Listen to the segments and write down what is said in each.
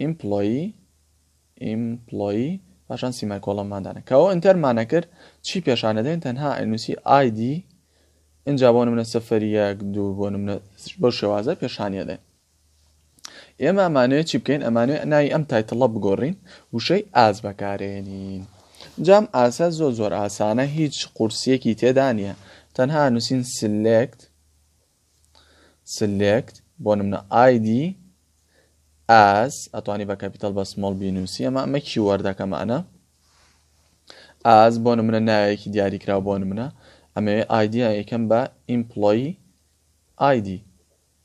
ئیمپلۆیی Employee پاشان سیمایکۆڵۆنمان دانێ کە ئەو ئینتەرمانە کرد چی پێشانە دێن تەنها ئەنووسی ئایدی ئینجا بۆ منە سەفەر یەک دوو بۆ منە بەو شێوازە پێشانە دێن ئێمە ئەمانەیە چی بکەین ئەمانەیە ناوی ئەم تایتڵە بگۆڕین وشەی ئاز بەکارێنین جام ئاسا زۆر زۆر ئاسانە هیچ قورسیەکی تێدا نیە تەنها نووسین سلێکت سلێکت بۆ نمونە ID ئاز ئەتوانی بە کەپیتەل بە سمۆڵ بینوسی ئەمە ئەمە کی وەردەکەمە ئەە ئاز بۆ نمونە ناوێکی دیاریکرا بۆ نمونە ئەمەوێ ئایدیا یەکەم بە ئیمپلۆی ID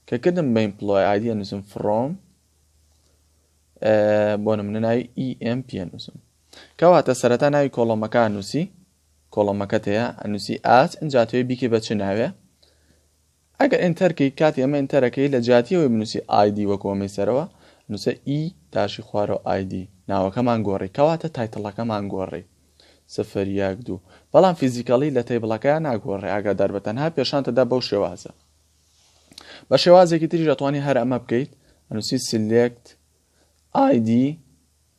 کە کردم بە ئیمپلۆی ID نووسم فڕۆم بۆ نمونە ناوی EM پێ نووسم کەواتە سەرەتا ناوی کۆڵۆمەکان نووسی کۆڵەمەکەت هەیە ئەنوسی ئاچ ئەجا توێ بیکەی بە چ ناوێ ئەگەر ئینتەرکەی کاتی ئەمە ئینتەرەکەی لە جیاتی ئەوەی بنووسی ئایدی وەکو ئەمەی سەرەوە نووسە ئی داشی خوارەوە ئایدی ناوەکەمان گۆڕی کەواتە تایتڵەکەمان گۆڕی سفر یەک دوو بەڵام فیزیکەڵی لە تەیبڵەکەیان ناگۆڕێ ئاگادار بە تەنها پێشانتەدا بەو شێوازە بە شێوازێکی تریش ئەتوانی هەر ئەمە بکەیت ئەنووسی سلێکت ئای دی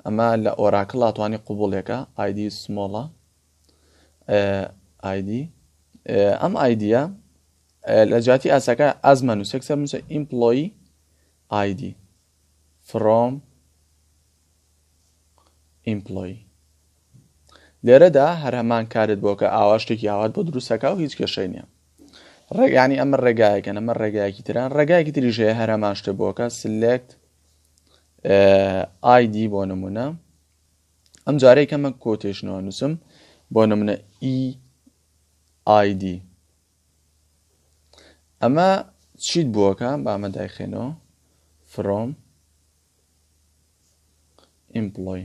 ئەمە لە ئۆراکڵا توانی قوبوڵێکە ئایدی سمۆڵە ئایدی ئەم ئایدیە لە جاتی ئاساکە ئازمە نووسێک سەر نووسە ئیمپلۆی ئایدی فرۆم ئیمپلۆی لێرەدا هەر هەمان کارت بۆ کە ئاوا شتێکی ئاوات بۆ دروستەکە و هیچ کێشەی نیە ڕێگانی ئەمە ڕێگایەکە ئەمە ڕێگایەکی تران ڕێگایەکی تریژەیە هەرەمان شتە بۆکە سلێکت ئایدی بۆ نمونە ئەم جارەی کەمە کۆتێشنەوە نووسم بۆ نمونە ئی e ئایدی ئەمە چیت بووەکە بامە دایخێنەوە فرۆم ئیمپلۆی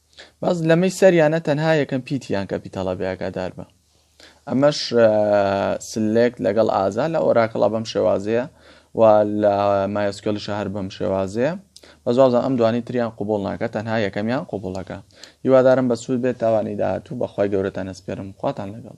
بەس لەمەی سەریانە تەنها یەکەم پیتیان کە پیتەڵە بەیاگادار بە ئەمەش سلێک لەگەڵ ئازا لە ئۆراکڵا بەم شێوازەیە و لە مایسکلی شەهر بەم شێوازەیە بەزوازە ئەم دوانی تریان قوبڵ ناکە تەنها یەکەمیان قوبڵەکە هیوادارم بە سوود بێت تاوانی داهاتوو بەخوای گەورەتان ئەسپێرم خواتان لەگەڵ